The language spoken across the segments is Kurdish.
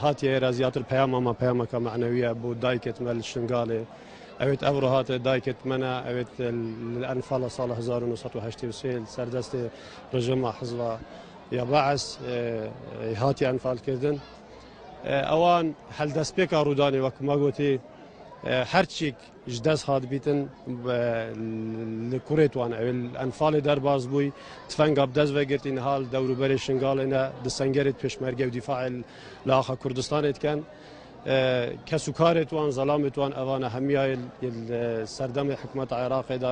Hatiye êra zîyatir peyama me, peyameke manewî ye bo dayikê tme li Şingalê. Ewêt ev roha te dayikê tme ne, ewêt li Enfala sala hezar û nû sed û heştê û sê li ser destê rejima hizba ya Baes hatiye enfalkirdin. Ewan heldestpêka rûdanê wek ku me gotî her çîk Ji dest hat bîtin li kurê wan ew enfalê derbas bûy tifenga bi dest vegirtî niha li dewrûberê Şingalê ne di sengerê pêşmerge û dîfaê li axa Kurdistanê dikin. Kes û karê wan zelamê wan evan e hemiya yê serdemê hikûmeta Iraqê de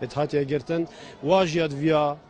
yê hatiye girtin. Wa jî ya di viya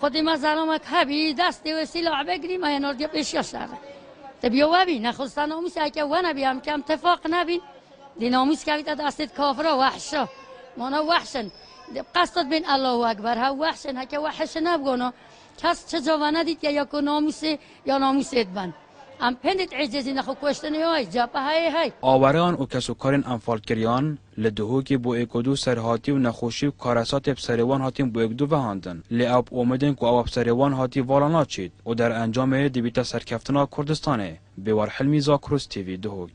Xwedî ma zaromek hebî, destê wê sîlah vegrî ma yên ordiya pêşiya şerê. Ti bîyo we bî, nexwista namûs eke we nebî em kem tifaq nebîn. Dî namûs kevîte destê kafira wehşa. Mana wehş in. Qesta dibên Allahu Ekber hev wehş in. Heke wehişê nebigona kes çi cava nedîtiye ya ku namûsê ya namûsê diben. Em pêndî diecêzîn lê xwe kuştinê hay, cephe heyê hay. Awereyan û kesokarên enfalkiriyan Li Duhokê boêk û du serhatî û nexweşî û karesatê bi serê wan hatîn boêk du vehandin. Lê ew bi omîdên ku ewa bi serê wan hatî vala naçît û derencamê dibîte serkeftina Kurdistanê. Bêwar Hilmî, Zakruz TV, Duhok.